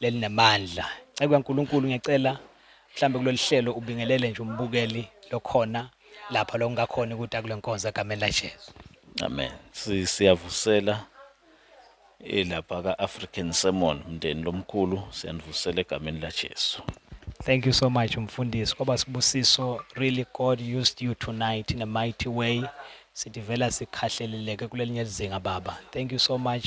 lelinamandla. Nceku kaNkulunkulu ngiyacela mhlambe kulolu hlelo ubingelele nje umbukeli lokhona lapha lokungakhona ukuthi akule nkonzo egameni laJesu. Amen. Si- Siyavusela elapha ka-African Sermon mndeni lomkhulu siyanivusela egameni laJesu. Thank you so much mfundisi kwaba sibusiso really God used you tonight in a mighty way sithi vela sikhahleleleke kulelinye lizinga baba thank you so much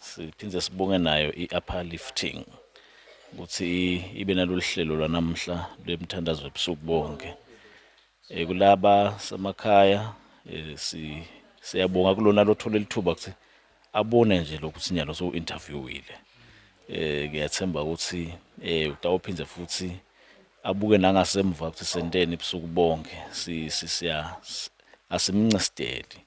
Siphinde sibonge nayo i-upper lifting ukuthi ibe nalolu hlelo lwanamhla lwemthandazo ebusuku bonke. Eh, kulaba semakhaya eh, si siyabonga kulona lothola lithuba ukuthi abone nje lokuthi nyalo so interviewile. Eh ngiyathemba ukuthi eh utawuphinde futhi abuke nangasemva ukuthi senteni ebusuku bonke si siya asimncesteli.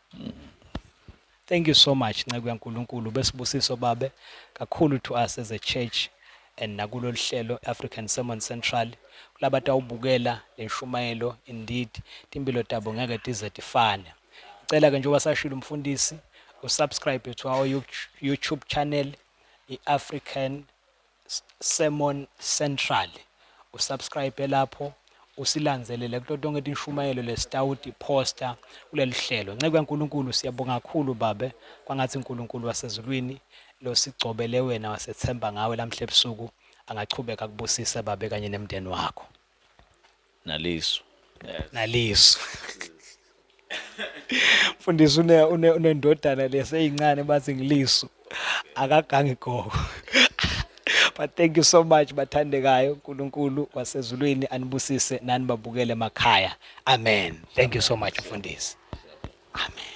Thank you so much nceku yaNkulunkulu besibusiso babe kakhulu to us as a church and nakulolu hlelo African Sermon Central kulaba tawubukela lenshumayelo indeed timpilo tabo ngeke tize tifane icela ke njengoba sashilo umfundisi usubscribe to our YouTube channel iAfrican Sermon Central u subscribe lapho usilanzelele kuto tonke tinshumayelo lesitawuti poster kulelihlelo nceku yaNkulunkulu siyabonga kakhulu babe kwangathi uNkulunkulu wasezulwini losigcobele wena wasethemba ngawe lamhla ebusuku angachubeka kubusise babe kanye nemndeni wakho nalisu nalisu mfundisi une une unendodana leseyincane bathi ngilisu akagangi gogo but thank you so much bathandekayo uNkulunkulu wasezulwini anibusise nani babukele emakhaya amen thank you so much mfundisi amen